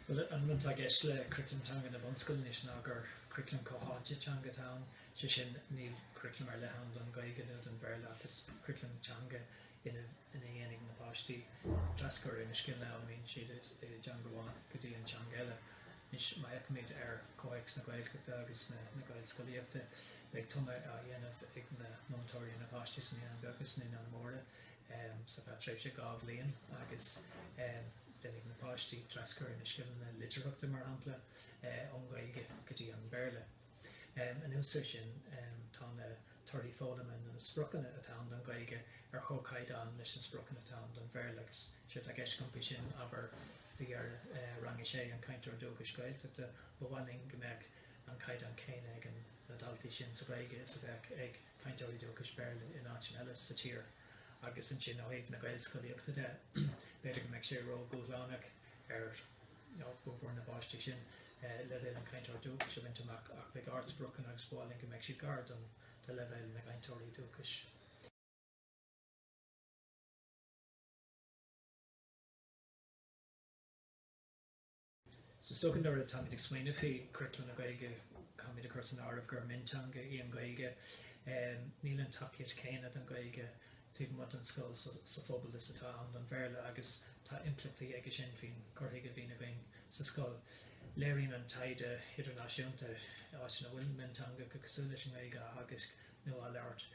Bhuel, an rud atá i gceist le Curaclam Teanga na Bunscoile anois ná gur curaclam comhtháite teanga atá ann, sé sin níl curaclam ar leith ann don Ghaeilge nó don Bhéarla ach is curaclam teanga é ina dhéanfaidh na páistí traschur ar na scileanna a fhoghlaimíonn siad i dteanga amháin go dtí an teanga eile. Anois, má fheicimid ar chomhthéacs na Gaeltachta agus na Gaelscolaíochta, beidh tumadh á dhéanamh ag na múinteoirí ar na páistí sna naíonáin bheaga agus naíonáin mhóra ar feadh tréimhse dhá bhliain agus déanfaidh na páistí traschur ar na scileanna litearthachta, mar shampla, ón nGaeilge go dtí an Béarla. Anuas ar sin tá na torthaí foghlama nó na spriocanna atá ann don Ghaeilge ar chomhchaighdeán leis na spriocanna atá ann don Bhéarla agus séard atá i gceist faoi sin, abair, b'fhéidir Rang a Sé an cainteoir dúchais Gaeltachta, ba mhaith linn go mbeadh an caighdeán céanna ag na daltaí sin sa Ghaeilge is a bheadh ag cainteoirí dúchais Béarla in áiteanna eile sa tír. Agus ansin ó thaobh na Gaelscolaíochta de, b'fhéidir go mbeadh sé ródhúshlánach ar mhórán de na páistí sin leibhéal an chainteoir dúchais a bhaint amach, ach beidh ardspriocanna agus b'áil linn go mbeadh siad gar do leibhéal na gcainteoirí dúchais. So is dócha nuair atáimid ag smaoineamh faoi churaclam na Gaeilge, caithfimid a chur san áireamh gur mionteanga í an Ghaeilge. Níl an tacaíocht chéanna don Ghaeilge taobh amuigh den scoil, sa phobal is atá ann don Bhéarla agus tá impleachtaí aige sin faoin gcur chuige a bhíonn againn sa scoil. Léiríonn an taighde idirnáisiúnta, in áiteanna a bhfuil mionteangacha cosúil leis an nGaeilge á dteagasc nó á labhairt,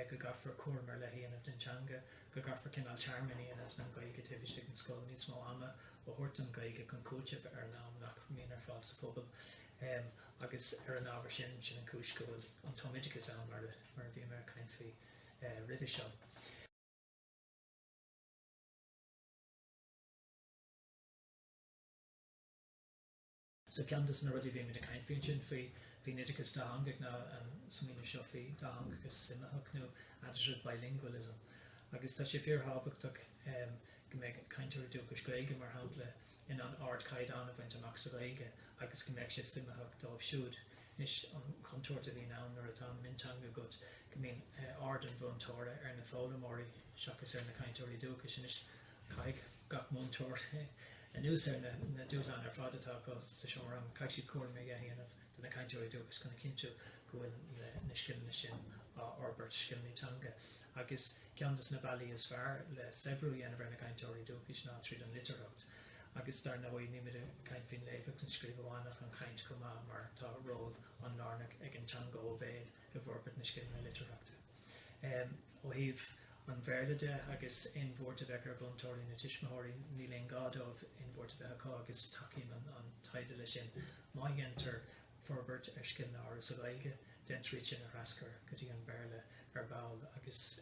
go gcaithfear cúram ar leith a dhéanamh den teanga, go gcaithfear cineál tearmann a dhéanamh den Ghaeilge taobh istigh den scoil, níos mó ama a thabhairt don Ghaeilge chun cúiteamh ar an am nach mbíonn ar fáil sa phobal agus ar an ábhar sin, sin an chúis go bhfuil an tumoideachas ann mar a bhí mé ag caint faoi. roimhe seo. So ceann de na rudaí a bhímid ag caint faoi ansin faoin oideachas dátheangach ná an smaoineamh seo faoi dátheangachas suimitheach nó additive bilingualism agus tá sé fíorthábhachtach go mbeadh cainteoirí dúchais Gaeilge mar shampla in ann ardchaighdeán a bhaint amach sa Ghaeilge agus go mbeadh sé suimitheach dóibh siúd Anois an chontúirt a bhíonn ann nuair atá mionteanga agat go mbíonn aird an mhúinteora ar na foghlaimeoirí seachas ar na cainteoirí dúchais. Anois caithfidh gach múinteoir anuas ar na dúshláin ar fad atá acu sa seomra ranga, caithfidh siad cúram a dhéanamh do na cainteoirí dúchais chun a chinntiú go bhfuil na scileanna sin á fhorbairt, scileanna teanga. Agus ceann de na bealaí is fearr le saibhriú a dhéanamh ar na cainteoirí dúchais ná tríd an litearthacht. Agus dar ndóigh nílimid ag caint faoin léamh agus an scríobh amháin ach an chaint chomh maith mar tá ról an-lárnach ag an teanga ó bhéal i bhforbairt na scileanna litearthachta. Ó thaobh an Bhéarla de agus aon bhuairt a bheadh ar mhúinteoirí nó tuismitheoirí níl aon ghá dóibh aon bhuairt a bheith acu agus tacaíonn an taighde leis sin. Má dhéantar forbairt ar scileanna áirithe sa Ghaeilge, déantar iad sin a thraschur go dtí an Béarla ar ball agus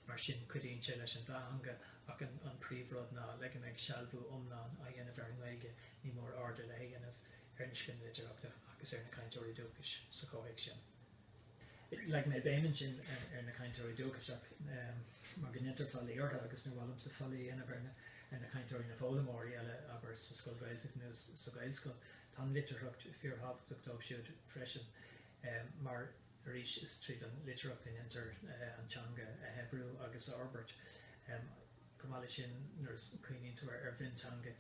mar sin cuidíonn sé leis an dá theanga ach an príomhrud ná le go mbeidh sealbhú iomlán á dhéanamh ar an nGaeilge ní mór aird ar leith a dhéanamh ar na scileanna litearthachta agus ar na cainteoirí dúchais sa chomhthéacs sin. Leag mé béim ansin ar na cainteoirí dúchais ach mar go ndéantar faillí orthu agus nach bhfuilimse ag faillí a dhéanamh ar na cainteoirí na foghlaimeoirí eile abair sa scoil Gaeltachta nó sa Gaelscoil Tá an litearthacht fíorthábhachtach dóibh siúd freisin mar, arís, is tríd an litearthacht a dhéantar an teanga a shaibhriú agus a fhorbairt. Chomh maith leis sin, nuair a chuimhníonn tú ar mhionteanga,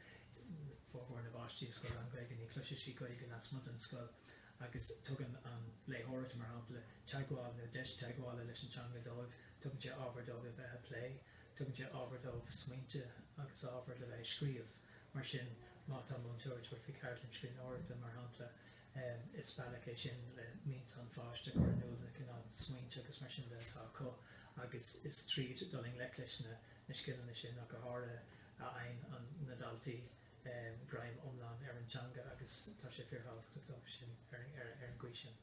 formhór na bpáistí i scoil lán-Ghaeilge, ní chloisfidh siad Gaeilge lasmuigh den scoil agus tugann an léitheoireacht, mar shampla, teagmháil nó deis teagmhála leis an teanga dóibh, tugann sé ábhar dóibh a bheith ag plé, tugann sé ábhar dóibh smaointe agus ábhar le bheith ag scríobh. Mar sin, má tá múinteoir ag tabhairt faoi cheardlann scríbhneoireachta, mar shampla, is bealach é sin le mianta an pháiste a chur in iúl, na cineál smaointe agus mar sin de atá acu, agus is tríd dul i ngleic leis na scileanna sin ach go háirithe a fhaigheann na daltaí greim iomlán ar an teanga agus tá sé fíorthábhachtach dóibh sin ar an gcaoi sin.